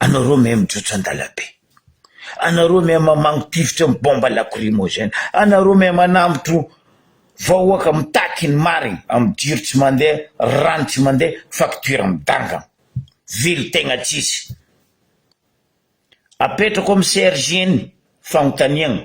Anao roa miha mijotso an-dalambe. Anao roa miha mamango-tifitra amin'ny bomba lakrimozena. Anao roa miha manambotro vahoaka mitaky ny marina amin'ny jiro tsy mandeha, rano tsy mandeha, faktiora midangana. Vily tegna tsisy. Apetrako amin'ny CRJ ny fanontaniagna.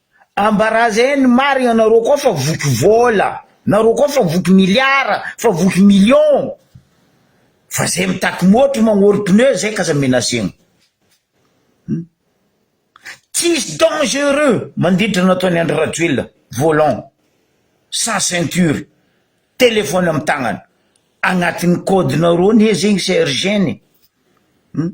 Ambarazay ny marina nareo koa fa voky vola nareo koa fa voky miliara fa voky million fa zay mitaky motro magnory pneu zay k'aza menacegna hum tsisy dangereux mandiditra nataony Andry Rajoelina volant sans ceinture telephone am tagnana agnatiny code nareo anie zegny sergent e hum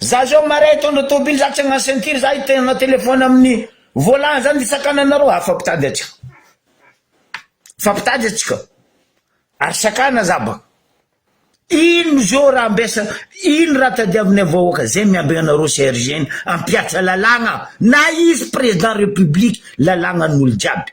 Za zao marin hitondra tobily za tsy hagnano ceinture za hitena telephone aminy volant zany de sakananareo ah fa mpitady atsika fa mpitady atsika ary sakana za ba ino zao raha ambesa ino raha tadiavinay vahoaka zay miambigna anareo CRG ny ampiatra lalagna na izy président république lalagna an'olo jiaby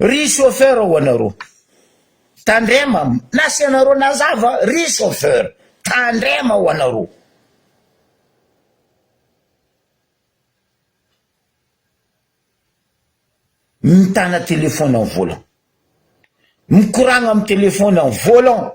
Ry chauffeur ho anareo. Tandrema na tsy anareo nazava ry chauffeur. Tandrema ho anareo. Mitana téléphone en volant. Mikoragna amin'ny téléphone en volant.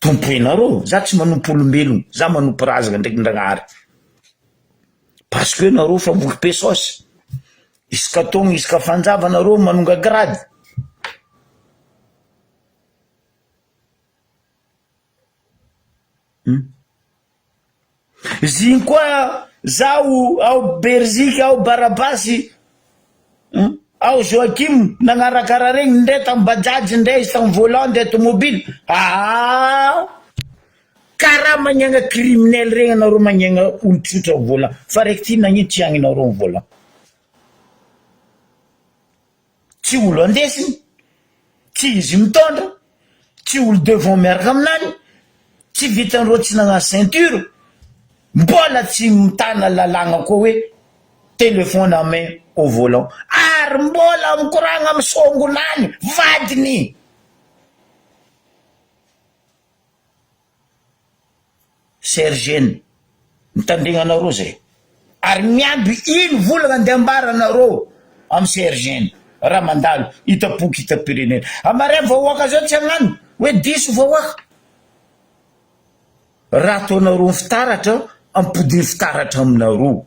Tompo enaro za tsy manompo olombelogno za manompo razagna ndraiky Ndragnahary parce que nareo fa voky be saosy isaka taogno isaka fanjava nareo manonga grady Ziny koa zaho ao Berzika ao Barabasy hum ao Joachim nagnaraka raha regny ndray tam bajaj ndray izy tam volant de tomobile aa karaha magnagna criminel regny anareo magnagna olo tsotra am volant fa raiky ty nagnino tsy agninareo am volant. tsy olo andesiny, tsy izy mitondra, tsy olo devant miaraka aminany, tsy vitan'ireo tsy nagnano ceinture, mbola tsy mitana lalàgna koa hoe téléphone à main au volant, ary mbola mikoragna amin'ny songonany, vadiny! Serge ny. Mitandregna anareo zay. Ary miamby ino volagna andeha ambara nareo am Serge ny. Raha mandalo hitapoky hitam-pirenena. A marais vahoaka zao tsy agnano hoe diso vahoaka. Raha ataonareo ny fitaratra ampodiany fitaratra aminareo.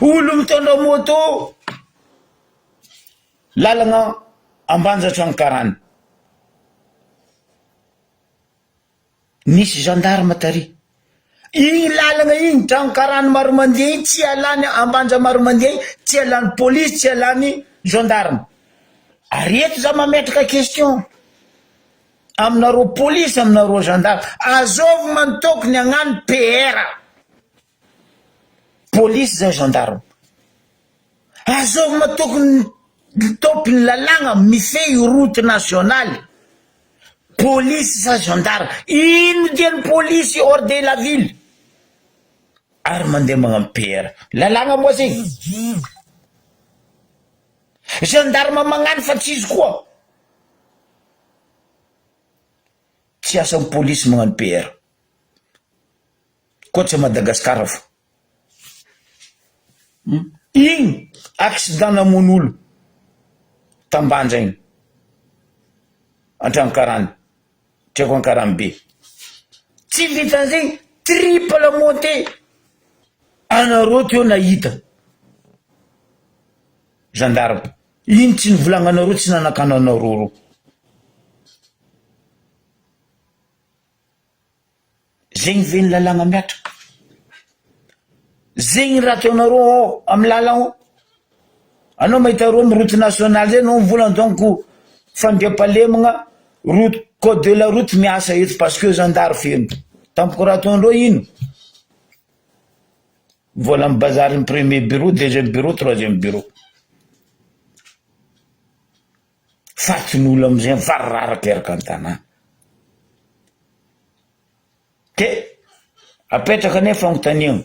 Olo mitondra moto, lalagna Ambanjatranokarana, nisy gendarme tary, iny lalagna iny Tranokarana Maromandia iny tsy ialany Ambanja Maromandia iny tsy ialany polisy tsy ialany gendarme, ary eto za mametraka question. aminareo police aminareo gendarme azovy mantoky ny agnano PR police zay gendarme azovy matoky ny topy ny lalagna mifehy route nationaly police sa gendarme ino dia ny police hors de la ville ary mandeha magnano PR lalagna moa zay gendarme magnano fa tsy izy koa Tsy asan'ny polisy magnano PR. Koa tsy à Madagascar fô. Igny accident namono olo tambanja igny. Antragno karana, tsy aiko ankarany be. Tsy vitan'izegny triple monte anareo teo nahita gendarme. Ino tsy nivolagnanareo tsy nanakana anareo reo zegny ve ny lalagna miatraka zegny raha ataonareo ao amy lala ao anao mahita reo amy route nationale zay anao mivolagna donc fandriampahalemagna route code de la route miasa eto parce que zandary feno tampoka raha ataondreo ino. Vola am bazary ny premier bureau, deuxième bureau, troisième bureau. Faty ny olo amzay mifarararaka eraka ny tanà. De apetraka anie fagnontaniagna.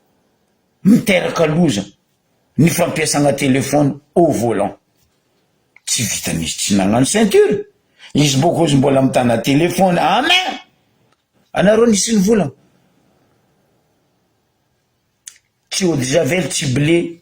miteraka loza ny fampiasana telephone au volant. Tsy vitan'izy tsy nagnano ceinture, izy bôko ozy mbola mitana telephone à main! Anareo nisy ny vola? Tsy eau de javel, tsy blé,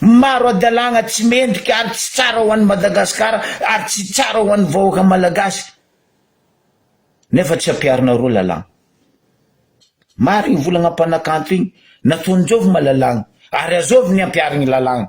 Maro hadalagna tsy mendrika ary tsy tsara ho an'i Madagasikara ary tsy tsara ho an'ny vahoaka malagasy nefa tsy ampiharinareo lalàgna. Maro igny volagna mpanakanto igny nataony zovy ma lalàgna ary azovy ny ampiharigny lalàgna.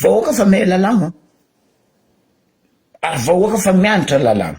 Vahoaka fa mihay lalàna ary vahoaka fa mianatra lalàna.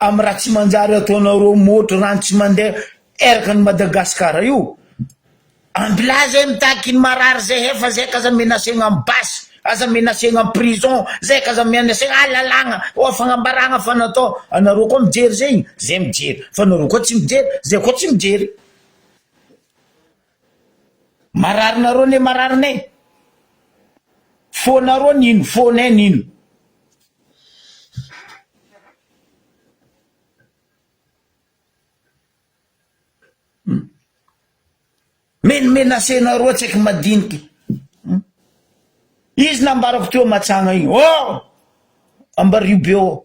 Am raha tsy manjary ataonareo motro rano tsy mandeha eraka ny Madagascar io. Ambilà zay mitaky ny marary zay hefa zay k'aza menacegna am basy aza menacegna am prison zay k'aza menacegna ah lalàgna oa fagnambaragna fa natao anareo koa mijery zegny zay mijery fa nareo koa tsy mijery zay koa tsy mijery. Marary nareo ne marary ne fonareo nino fonay nino. Hum. Men menase nareo tsy aiko madinika. Hum. Izy nambarako teo matsagna iny. Oh! Ambario be oh.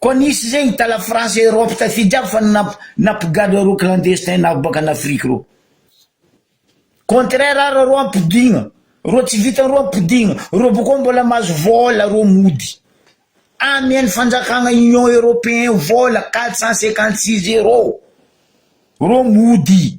Koa nisy zay hita la France et Europe tafidy aby fa namp- nampigadra ireo clandestin navy baka an Afrique reo. Contraire ara reo ampidigna, reo tsy vita reo ampidigna, reo boko mbola mahazo vola reo mody amian fanjakagna union europeen vola quatre cent cinquante six euros reo mody.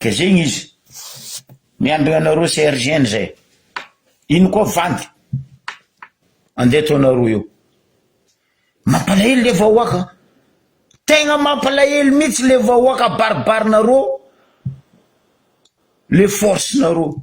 De zegny izy, miambigna anareo CRGN zay, ino koa vandy andeha ataonareo eo, mampalahelo le vahoaka an, tegna mampalahelo mihitsy le vahoaka abaribarinareo le force nareo.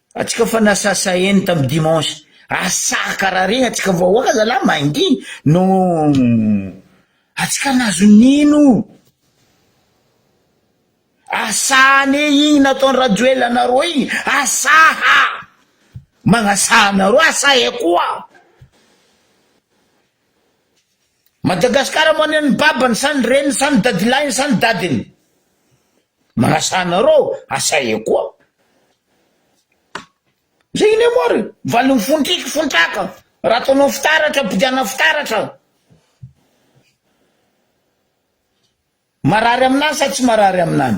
Atsika fa nasasaheny tam dimanche asa kara regny atsika vahoaka zalah mangi no atsika nazo nino asa ane igny nataony rajoel anareo igny asa ha magnasaha anareo asa e koa. Madagascar mo any ny babany sa ny reniny sa ny dadilahiny sa ny dadiny manasa anareo asa e koa zay iny mo ary valiny fontriky fontraka raha ataonao fitaratra ampidiana fitaratra marary aminany sa tsy marary aminany